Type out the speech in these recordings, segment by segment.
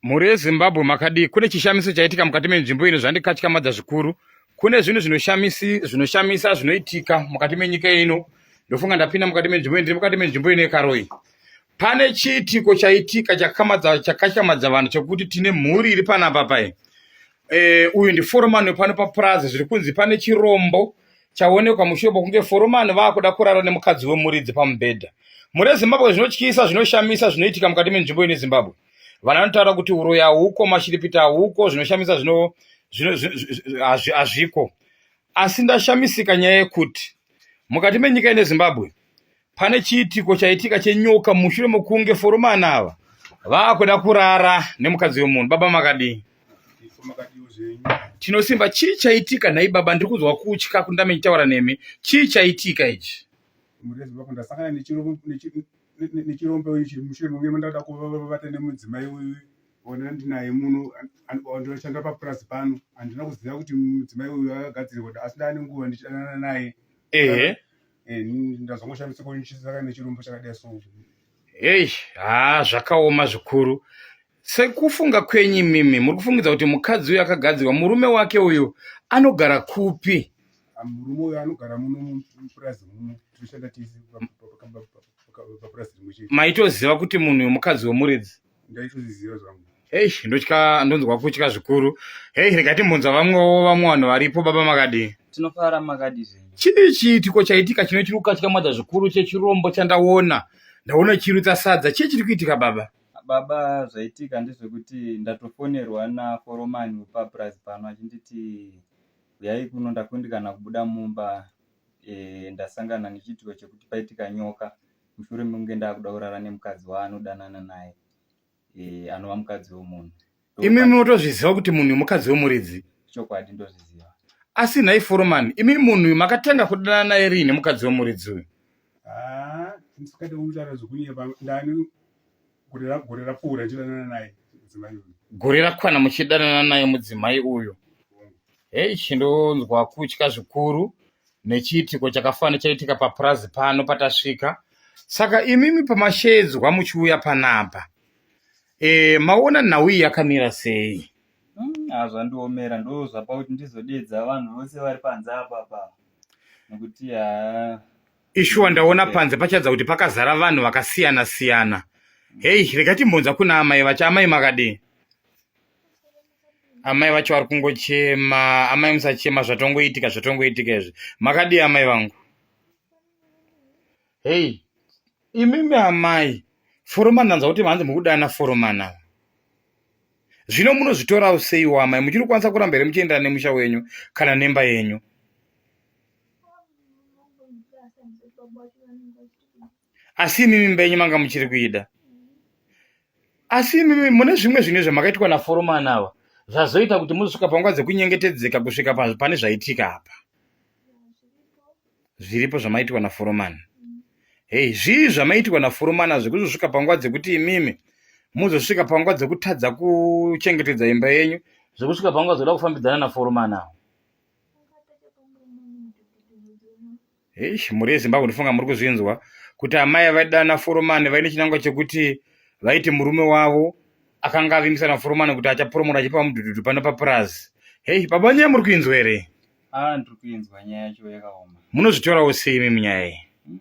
Mhuri yeZimbabwe makadii? Kune chishamiso chaitika mukati menzvimbo ino zvandikatyamadza zvikuru. Kune zvinhu zvinoshamisa zvinoitika mukati menyika ino. Ndofunga ndapinda mukati menzvimbo ino, ndiri mukati menzvimbo ino yekaroyi. Pane chiitiko chaitika chakatyamadza vanhu chekuti tine mhuri iri panapa paye. Eh, uyu ndiforomani wepano papurazi zviri kunzi pane chirombo chaonekwa mushure mokunge foromani vaakuda kurara nemukadzi wemuridzi pamubhedha. Mhuri yeZimbabwe zvinotyisa, zvinoshamisa zvinoitika mukati menzvimbo ine Zimbabwe. vana vanotaura kuti uroyi hauko mashiripiti hauko zvinoshamisa zvino hazviko asi ndashamisika nyaya yekuti mukati menyika ine zimbabwe pane chiitiko chaitika chenyoka mushure mokunge foromani ava vaakuda kurara nemukadzi wemunhu baba makadii tinosimba chii chaitika nhai baba ndiri kunzwa kutya kundame ndichitaura nemi chii chaitika ichi murezi vako ndasangana nechirombe uyu chiri mushure munge mandada kuvata nemudzimai uyu ona ndinaye muno ndinoshanda papurazi pano handina kuziva kuti mudzimai uyu akagadzirwa kuti asi ndaane nguva ndichidanana naye ehe eh, ndazongoshamisa kunisaka nechirombo chakadai so hei haa zvakaoma zvikuru Sekufunga kwenyu imimi muri kufungidza kuti mukadzi uyu akagadzirwa murume wake uyu anogara kupi? Ah, murume uyu anogara muno mupurazi muno tinoshanda tese papurazi rimwe chete. Maitoziva kuti munhu uyu mukadzi wemuridzi? Ndaitozviziva zvangu. Hei ndotya ndonzwa kutya zvikuru. Hei rega timbunza vamwewo vamwe vanhu varipo baba makadii? Tinofara makadii zvenyu? Chii chiitiko chaitika chinochiri kukatyamadza zvikuru chechirombo chandaona ndaona chirutsa sadza chii chiri kuitika baba? baba zvaitika ndezvekuti ndatofonerwa naforomani wepapurazi pano achinditi huyai kuno ndakundikana kubuda mumba e, ndasangana nechiitiko chekuti paitika nyoka mushure mekunge ndaakuda kurara nemukadzi waanodanana naye e, anova mukadzi wemunhu imi munotozviziva kuti munhu mukadzi wemuridzi chokwadi ndozviziva asi nhai foromani imi munhu uyu makatanga kudana naye riini mukadzi wemuridzi uyu ah, ndisikade kutaura zvokunyeba ndani gore rapfuura ndichidanana naye mudzimai uyu gore rakwana muchidanana naye mudzimai uyu hei chindonzwa kutya zvikuru nechiitiko chakafanira chaitika papurazi pano patasvika saka imimi pamashedzwa muchiuya panapa Eh, maona nhau iyi yakamira sei? Mm, ah, zvandiomera ndo zvapa kuti ndizodeedza vanhu vose vari panze apapa nokuti haa ishuwa ndaona panze pachadza kuti pakazara vanhu vakasiyana siyana hei rega timbonza kuna amai vacho amai makadii amai vacho vari kungochema amai musachema zvatongoitika zvatongoitika izvi makadii amai vangu Hey, imimi amai foromani ndanzwa kuti manzi mukudana foromani ava zvino munozvitorawo seiwo amai muchiri kukwanisa kuramba here muchienderana nemusha wenyu kana nemba yenyu asi imimi mba yenyu manga muchiri kuida asi imimi mune zvimwe zvinhu zvamakaitwa naforomani ava zvazoita kuti muzosvika panguva dzekunyengetedzeka kusvika pane zvaitika apa zviripo zvamaitirwa naforomani hei zvii zvamaitirwa naforomani azvi kuzosvika panguva dzekuti imimi muzosvika panguva dzekutadza kuchengetedza imba yenyu zvekusvika panguva dzoda kufambidzana naforomani awo hei mhuri yezimbabwe ndifunga muri kuzvinzwa kuti amai vaidana foromani vaine chinangwa chekuti vaiti murume wavo akanga avimbisa naforomani kuti achaporomora achipa mudhudhudhu pano papurazi hei babanyaya muri kuinzwa here Ah, ndiri kuinzwa nyaya yacho yakaoma. Munozvitorawo sei imi munyaya iyi? Mm,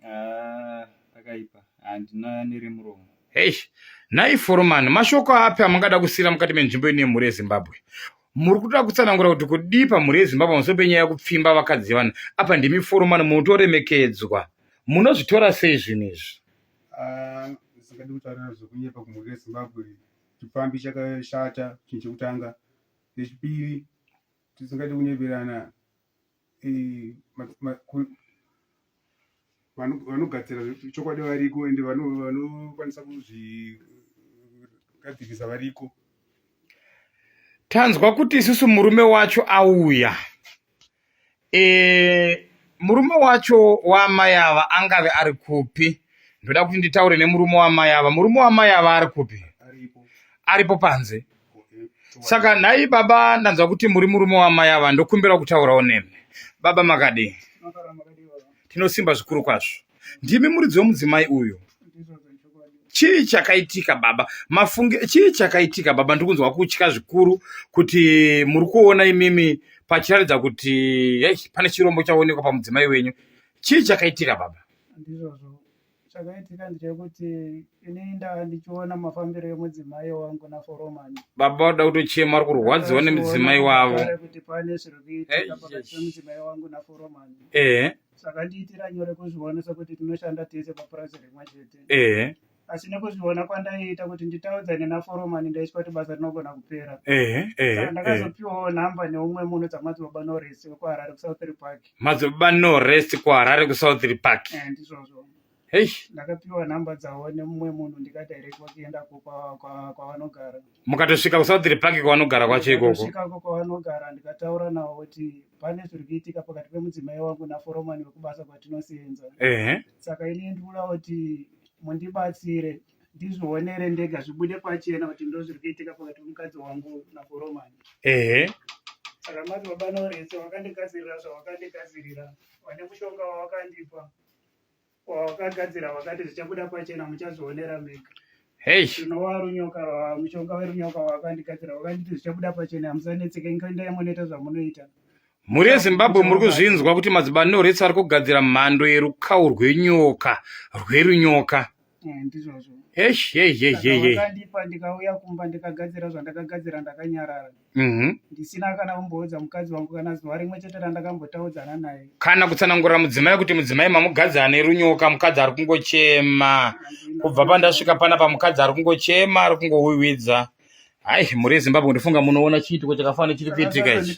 ah, pakaipa. Handina nere muromo. Eish, nhai foromani, mashoko api amungada kusiira mukati menzvimbo ine mhuri yeZimbabwe? Muri kutoda kutsanangura kuti kudii pamhuri yeZimbabwe pamusoro penyaya yekupfimba vakadzi yevanhu? Apa ndimi foromani munotoremekedzwa. Munozvitora sei zvinhu izvi? Ah, zvisingadi kutaura zvekunyepa kumhuri yeZimbabwe. Chipfambi chakashata chinhu chekutanga. Nechipiri, tisingade kunyeberana eh, vanogadzira chokwadi variko ende vanokwanisa kuzvigadzirisa variko. Tanzwa kuti isusu murume wacho auya. e, murume wacho waamai ava angave ari kupi ndoda kuti nditaure nemurume waamai ava murume waamai ava ari kupi aripo panze saka nhai baba ndanzwa kuti muri murume waamai ava ndokumbirawo kutaurawo nemi baba makadii tinosimba zvikuru kwazvo ndimi muridzi wemudzimai uyu chii chakaitika baba mafunge chii chakaitika baba ndiri kunzwa kutya zvikuru kuti muri kuona imimi pachiratidza kuti hey, pane chirombo chaonekwa pamudzimai wenyu chii chakaitika baba ndizvozvo chakaitika ndechekuti ini ndava ndichiona mafambiro emudzimai wangu naforomani baba vada kutochema vari kurwadziwa nemudzimai wavo kuti pane zviri kuitika pakati pemudzimai wangu naforomani ehe zvakandiitira nyore kuzviona sekuti tinoshanda tese papurazi rimwe chete ehe asi nekuzviona kwandaiita kuti nditaudzane naforomani ndaitya kuti basa rinogona kupera ehe saka ehe ehe ndakazopiwawo nhamba neumwe munhu dzamadzibaba noresi wekuharare kusouthry park madzibaba norest kuharare kusouthry park Eh, ndizvozvo Hey. Ndakapiwa number dzavo nemumwe munhu ndikadirectwa kuenda kwavanogara. Mukatosvika kuSouthry Park kwavanogara kwacho ikoko. Ndikasvikako kwavanogara ndikataura navo kuti pane zviri kuitika pakati pemudzimai wangu naforomani wekubasa kwatinoseenza. Ehe. Saka ini ndikuda kuti mundibatsire ndizvionere ndega zvibude pachena kuti ndozviri kuitika pakati pemukadzi wangu naforomani. Ehe. Saka mati baba Noresi wakandigadzirira zvawakandigadzirira vane mushonga wawakandipa. wawakagadzira wakati zvichabuda pachena muchazvionera mega tinova runyoka mushonga werunyoka wakandigadzira wakanditi zvichabuda pachena hamusanetseke ndoendai munoita zvamunoita mhuri yezimbabwe muri kuzvinzwa kuti madzibani norets ari kugadzira mhando yerukawo rwenyoka rwerunyoka eh, ndizvozvo eheheheheheandipa ndikauya kumba ndikagadzira zvandakagadzira ndakanyarara mhm. ndisina kana kumboudza mukadzi wangu kana zuva rimwe chete randakambotaudzana naye kana kutsanangurira mudzimai kuti mudzimai mamukadzi ane runyoka mukadzi ari kungochema kubva pandasvika pana pamukadzi ari kungochema ari kungowiwidza hayi mhuri yezimbabwe ndifunga munoona chiitiko chakafanira chiri kuitika ichi